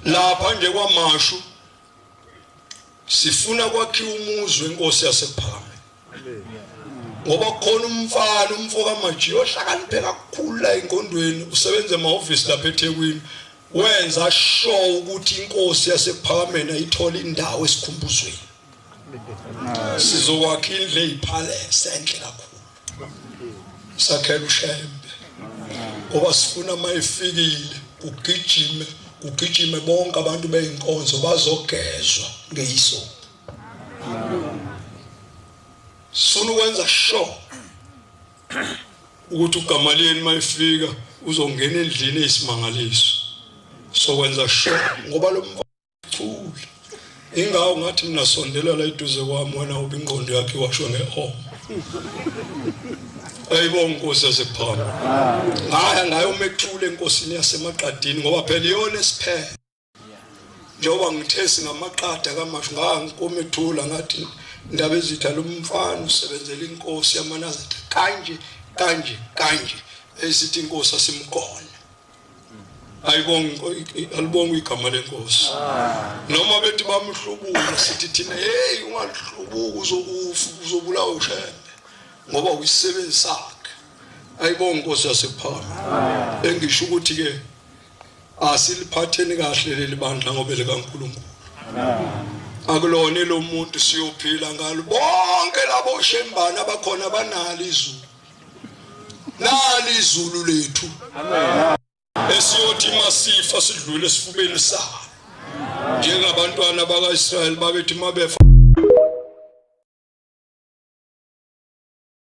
lapha nje kwamashu sifuna kwakhiwa umuzi wenkosi yasephakame ngoba khona umfana umfo kamaji ohlakaniphe kakhulu la enkondweni usebenza emahhovisi lapha ethekwini wenza sho ukuthi inkosi yasephakameni ayithole indawo esikhumbuzweni sizokwakha indlu eyiphalese enhle kakhulu sakhela ushembe ngoba sifuna uma ifikile kugijime kugijime bonke abantu beyinkonzo bazogezwa ngeyiso sifuna ukwenza sure ukuthi ugamaliyeni uma ifika uzongena endlini eyisimangaliso sokwenza sure ngoba lo Thula. Ingawo ngathi mina sondela la eduze kwami wena ubi ingqondo yakhe washo nge o. Ayibo nkosi yasephana. Ngaya ngayo umethule enkosini yasemaqadini ngoba phela iyona esiphele. Njengoba ngithe singamaqada kamashu ngangikomethula ngathi indaba ezitha lomfana usebenzela inkosi yamanazitha kanje kanje kanje esithi inkosi asimgona alibonga igama lenkosi noma bethi bamhlubula sithi thina heyi ungalihlubuka uzokufa uzobulawa ushembe ngoba uyisisebenzi sakhe ayibonga inkosi yasephana engisho ukuthi-ke asiliphatheni kahle leli bandla ngoba likankulunkulu akulona elomuntu siyophila ngalo bonke labo shembana abakhona banalo izulu nali izulu lethu esiyothi masifa sidlule esifubeni salo njengabantwana bakaIsrayeli babethi mabefa